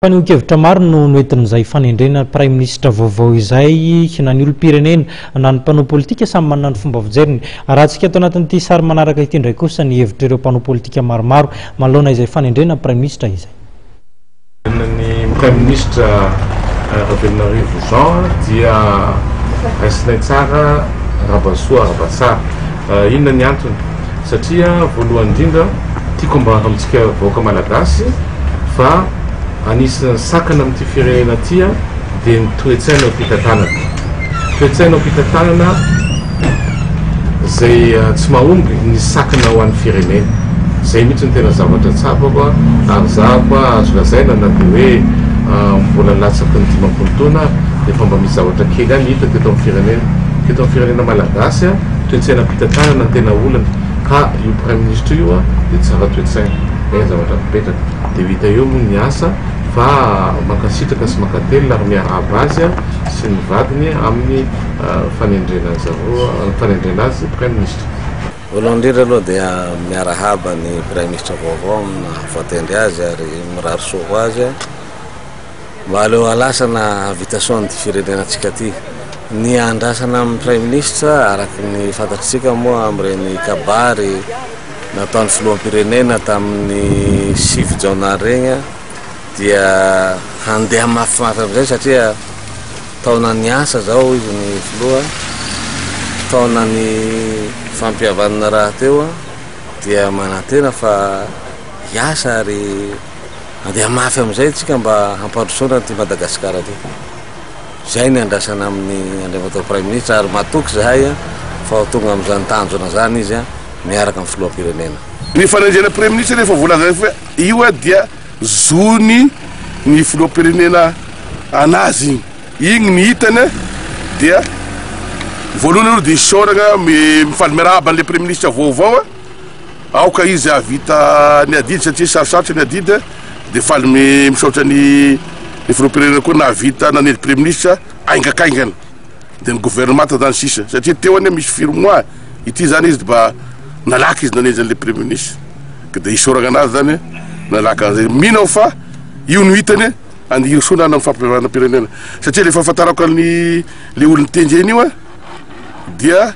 Fanehoan-kevitra maro no noentin'izay fanendrena praiminisitra vaovao izay, na ny olom-pirenena, na ny mpanao politika samy manana ny fomba fijeriny. Arahantsika ato anatin'ity sary manaraka ity indray kosa ny hevitr'ireo mpanao politika maromaro manoloana izay fanendrena praiminisitra izay. Ny praiminisitra Ravelonarivo Jean dia raisinay tsara Rabasoa Rabatsara. Inona ny antony? Satria voalohany indrindra tiako ambara amintsika vahoaka malagasy fa anisan'ny sakana amin'ity firenena ity dia ny toe-tsaina am-pitantanana. Toe-tsaina am-pitantanana izay tsy mahomby ny sakana ho an'ny firenena. Izay mihitsy no tena zavatra tsapako ary izaho koa azo lazaina na dia hoe mbola latsaky ny dimampolo taona aho dia efa mba misy zavatra kely ihany hita teto amin'ny firenena teto amin'ny firenena malagasy. Toe-tsainam-pitantanana no tena olana. Ka io praiminisitra io dia tsara toe-tsaina. Izay ny zavatra mipetraka. Dia ho hita eo moa ny asa. Fa mankasitraka sy mankatelina ary miarahaba azy sy ny vadiny amin'ny fanendrena an-dry zareo, fanendrena azy praiminisitra. Voalohany indrindra aloha dia miarahaba ny praiminisitra vaovao amin'ny naha voatendry azy ary mirary soa ho azy. Mba aleo halasa na hahavita soa an'ity firenenantsika ity. Ny andrasana amin'ny Praiminisitra, araka ny fantatritsika moa amin'ireny kabary nataon'ny Filoham-pirenena tamin'ny sivy Jona ireny dia handeha mahafinaritra amin'izay satria taonan'ny asa izao hoy izy ny Filoha, taonan'ny fampihavanana rahateo dia manantena fa hiasa ary. Andeha mafy amin'izay tsika mba hampandrosoana an'ity Madagasikara ity. Izay ny andrasana amin'i Andriamatoa Praiminisitra ary matoky izahay fa ho tonga amin'izany tanjona izany izy miaraka amin'ny Filoham-pirenena. Ny fanenjehana Praiminisitra dia efa voalazanay fa io dia zony ny Filoham-pirenena an'azy iny. Iny ny hitany dia voalohany aloha dia isaorana mifaly miarahaba an'ilay Praiminisitra vaovao. Aoka izy hahavita ny adidy satria sarosarotry ny adidy e! Dia faly misaotra ny ny filoham-pirenena koa nahavita nanely praiministra haingakaingana, dia ny governemanta zany sisa satria teo anie misy firy mois ity zany izy dba nalaka izy nanenjy an'le praiministra ka dia isaoragna anazy zany e! Nalaka an'izay, mino aho fa io no hitany e! Any Hirosoa na any amin'ny fampihavanam-pirenena satria le fahafantarako an'i le olon'i Tenjena io a dia.